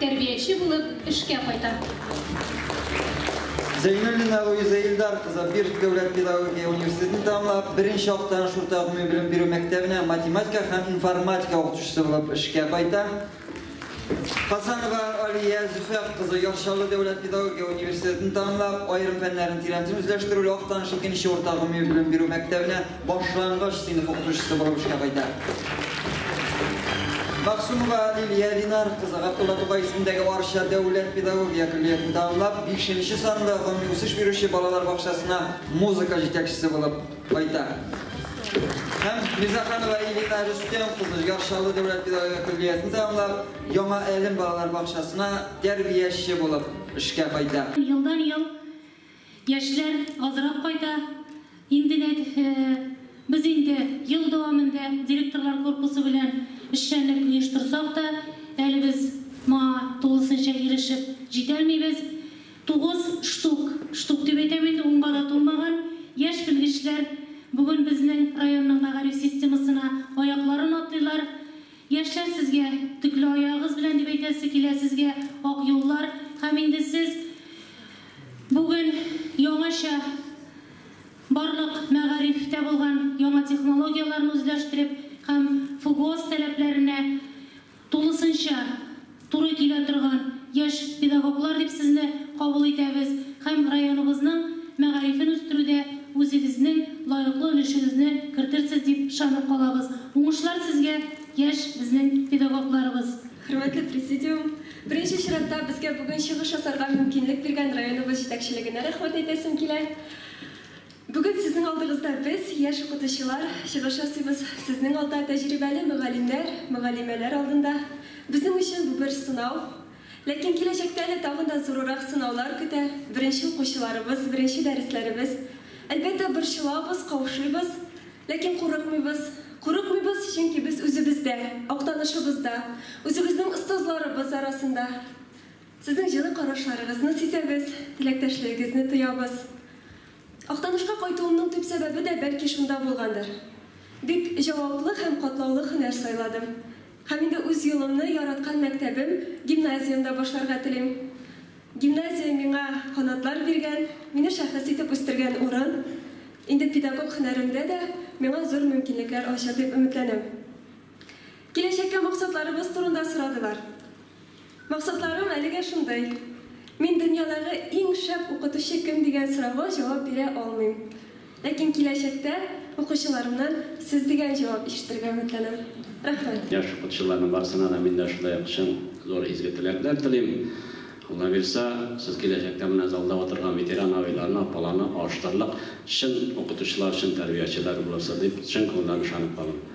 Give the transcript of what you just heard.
Тәрбияче булып эшкә кайта. Зәйнуллина Луиза Илдар кызы Бирск дәүләт педагогия университетын тәмамлап, беренче актаныш урта гомуми белем бирү мәктәбенә математика һәм информатика укытучысы булып эшкә кайта. Хасанова Алия Зөфәр кызы Яр Чаллы дәүләт педагогия университетын тәмамлап, аерым фәннәрне тирәнтен үзләштерүле актаныш икенче урта гомуми белем бирү мәктәбенә Башлангыч сыйныф укытучысы булып эшкә кайта. Максумова Лилия Линар кызы Габдулла Тукай исемендәге Арча дәүләт педагогия көллиятен тәмамлап, бишенче санлы гомуми үсеш бирүче балалар бакчасына музыка җитәкчесе булып кайта. Һәм Мирзаханова Элина Рөстәм кызы Яршалы дәүләт педагогия көллиятен тәмамлап, Яңа Әлем балалар бакчасына тәрбияче булып эшкә кайта. Елдан-ел Яшьләр азрак кайта. Инде нәг без инде ел дәвамында директорлар корпусы белән эшчәнлек оештырсак та, әле без моңа тулысынча ирешеп җитәлмибез. Тугыз штук, штук дип әйтәм инде, унга да тулмаган, яшь белгечләр бүген безнең районның мәгариф системасына аякларын атлыйлар. Яшьләр сезгә, төкле аягыгыз белән дип әйтәсе килә сезгә, ак юллар һәм инде сез бүген яңача барлык мәгарифтә булган яңа технологияләрне үзләштереп һәм ФГОС таләпләренә тулысынча Туры килә торган яшь педагоглар дип сезне кабул итәбез һәм районыбызның мәгарифен үстерүдә үзегезнең лаеклы өлешегезне кертертсез дип ышанып калабыз. Уңышлар сезгә, яшь безнең педагогларыбыз! Хөрмәтле Президиум! Беренче чиратта безгә бүген чыгыш ясарга мөмкинлек биргән районыбыз җитәкчелегенә рәхмәт әйтәсем килә. Бүген сезнең алдыгызда без, яшь укытучылар, чыгыш ясыйбыз, сезнең алда тәҗрибәле мөгаллимнәр, мөгаллимәләр алдында. Безнең өчен бу бер сынау. Ләкин киләчәктә әле тагын да зурырак сынаулар көтә, беренче укучыларыбыз, беренче дәресләребез. Әлбәттә, борчылабыз, каушыйбыз. Ләкин курыкмыйбыз. Курыкмыйбыз, чөнки без үзебездә, актанышыбызда, үзебезнең остазларыбыз арасында. Сезнең җылы карашларыгызны сизәбез, теләктәшлегегезне тоябыз. Актанышка кайтуымның төп сәбәбе дә бәлки шунда булгандыр. Бик җаваплы һәм катлаулы һөнәр сайладым. Һәм инде үз юлымны яраткан мәктәбем, гимназиямдә башларга телим. Гимназия миңа канатлар биргән, мине шәхес итеп үстергән урын. Инде педагог һөнәремдә дә миңа зур мөмкинлекләр ачыр дип өметләнәм. Киләчәккә максатларыбыз турында сорадылар. Максатларым әлегә шундый. Мин дөньядагы иң шәп укытучы кем дигән сорауга җавап бирә алмыйм. Ләкин киләчәктә укучыларымнан сез дигән җавап ишетергә өметләнәм. Рәхмәт. Яшь укытучыларның барсына да мин дә шулай ук чын, зур изге теләкләр телим. Алла бирса, сез киләчәктә менә залда утырган ветеран абыйларны, апаларны алыштырырлык чын укытучылар, чын тәрбиячеләр булырсыз дип чын күңелдән ышанып калам.